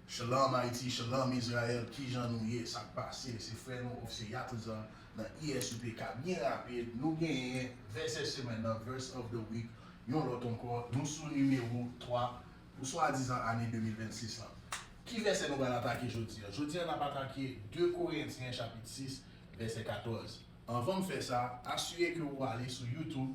Shalom Haiti Shalom Israel kijan nou ye sak pase se frè nou ofse Yatlzan nan ISUPK byen rapid nou genyen vèsè semèn nan verse of the week yon lòt ankò nou sou nimewo 3 pou swadizan ane 2026 lan ki vèsè nou pral atake jodi an jodi an nap atake 2 korentyen chapit 6 vèsè 14 anvan m fè sa asire ke ou ale sou youtube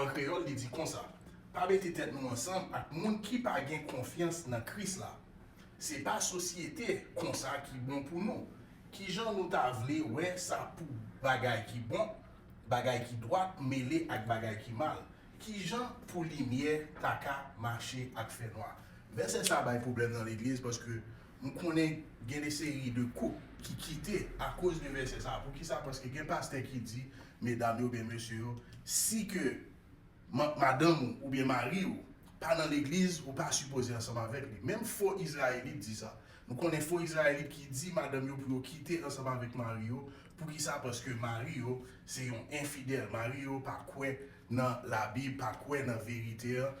An kreyòl, li di konsa, Pa mete tèt nou ansanm ak moun ki pa gen konfyans nan Kris la. Se pa sosyete konsa ki bon pou nou. Ki jan nou ta vle wè sa pou bagay ki bon, bagay ki dwat mele ak bagay ki mal? Ki jan pou limyè ta ka mache ak fènwa? Vèsè sa a bay pwoblèm nan legliz paske M konnen gen de seri de koup ki kite akoz de vèsè sa a. Poukisa? Paske gen pastè ki di medam yo oubyen mesye yo, si ke madanm ou oubyen mari ou pa nan legliz, ou pa sipoze ansanm avèk li. Menm fo izrayelit di sa. Nou konnen fo izrayelit ki di madanm yo pou yo kite ansanm avèk mari yo. Poukisa? Paske mari yo se yon enfidèl. Mari yo pa kwè nan Labib, pa kwè nan verite an.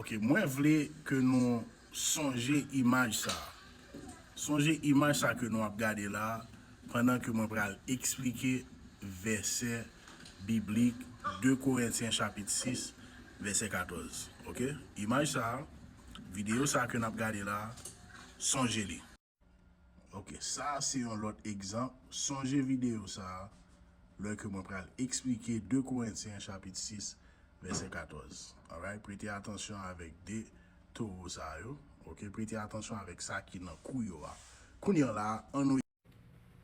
Ok mwen vle ke nou sonje imaj sa a. Sonje imaj sa ke nou ap gade la a pandan ke mwen pral eksplike vèsè biblik 2 Korentyen chapit 6 vèsè 14 ok. Imaj sa a, videyo sa a ke n ap gade la a, sonje li. Ok, sa a se yon lòt egzanp, sonje videyo sa a lè ke mwen pral eksplike 2 Korentyen chapit 6 vèsè 14. Alright, prete atansyon avèk 2 towo sa yo, ok, prete atansyon avèk sa ki nan kou yo a. Kounye a la a, annou.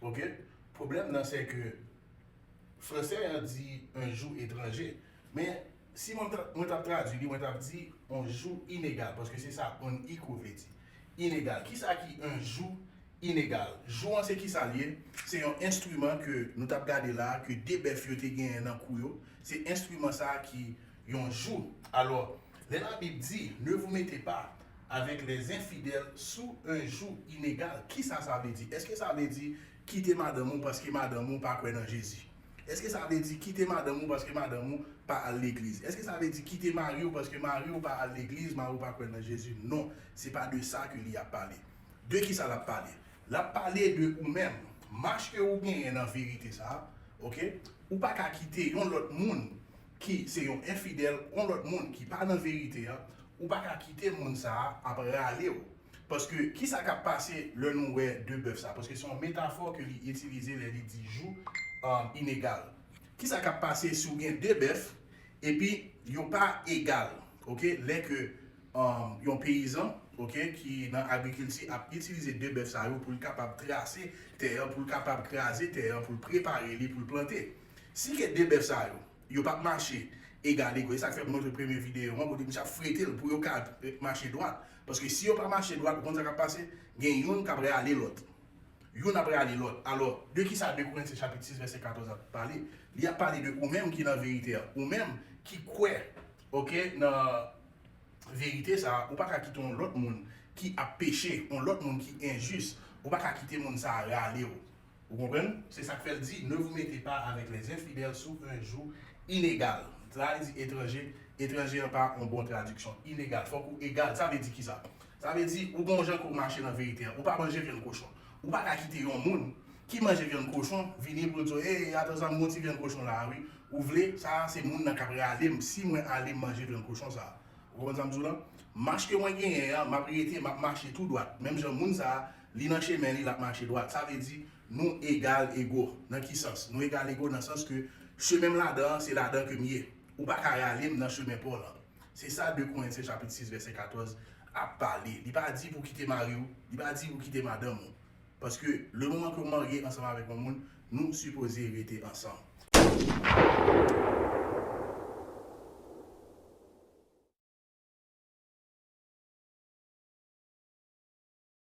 ok pwoblèm nan sè ke fransè an di un joug etranje men si mwen ta mwen tap tradwi li mwen tap di on jou inegal paske se sa on iko vle di inegal kisa ki un jou inegal jou an se kisa liye se yon enstriman ke nou tap gade la ke de bèf yo te genyen nan kou yo se enstriman sa ki yon jou. Alò, lè Labib di, Ne vous mettez pas avec les infidèles sous un joug inégal, ki sa sa vle di? Èske sa vle di kite madanm ou paske madanm ou pa kwè nan Jezi? Èske sa vle di kite madanm ou paske madanm ou pa al legliz? Èske sa vle di kite mari ou paske mari ou pa al legliz, mari ou pa kwè nan Jezi? Non, se pa de sa ke li ap pale. De ki sa l ap pale? L ap pale de ou menm. Mach ke ou genyen nan verite sa a, ok, ou pa ka kite yon lòt moun ki se yon enfidèl, yon lòt moun ki pa nan verite a, ou pa ka kite moun sa a ap rale ou. Paske, ki sa k ap pase lè nou wè de bèf sa a? Paske se yon metafò ke li itilize lè li di jou inegal. Ki sa k ap pase si ou gen de bèf epi yo pa egal? Oke, lè ke yon peyizan, oke, ki nan agrikilti ap itilize de bèf sa yo pou l kapab trase tè an, pou l kapab kraze tè an, pou l prepare li pou l plante. Si ke 2 bèf sa yo, yo pap mache egalego, e sak fè m montre premye videyo an kote misye ap frete l pou yo ka mache dwat, paske si yo pa mache dwat ou konn sa kap pase, gen youn kap rale lòt. Youn ap rale lòt. Alò, de ki sa 2 Korinti chapit 6 vèsè 14 ap pale? Li ap pale de ou menm ki nan verite a, ou menm ki kwè ok nan verite sa a, ou pa ka kite yon lòt moun ki ap peche, yon lòt moun ki enjis, ou pa ka kite moun sa a rale w. Ou konprann? Se sa k fè l di, Ne vous mettez pas avec les infidèles sous un joug inégal. Sa a li di etranje, etranje an pa yon bon tradiksyon. Inégal, fòk ou egal. Sa vle di ki sa? Sa vle di, ou gen yon jan ke w mache nan verite a. Ou pa manje vyann kochon. Ou pa ka kite yon moun ki manje vyann kochon vini pou l di w, Ey, atan sa, m gen yon ti vyann kochon la a wi. Ou vle, sa a se moun nan k ap rale m si mwen ale manje vyann kochon sa a. Ou konprann sa m di w la? Mach ke mwen genyen an, m ap rete, m ap mache tou dwat. Menm jan moun sa a. Li nan chemen li, l ap mache dwat. Sa vle di, nou egal ego. Nan ki sans? Nou egal ego nan sans ke chemen m ladan an, se ladan ke m ye. Ou pa ka rale m nan chemen pa w lan. Se sa 2 Korentyen chapit 6 vèsè 14 ap pale. Li pa di pou w kite mari w, li pa di pou w kite madanm ou. Paske lemoman ke w marye ansanm avèk yon moun, nou sipoze rete ansanm.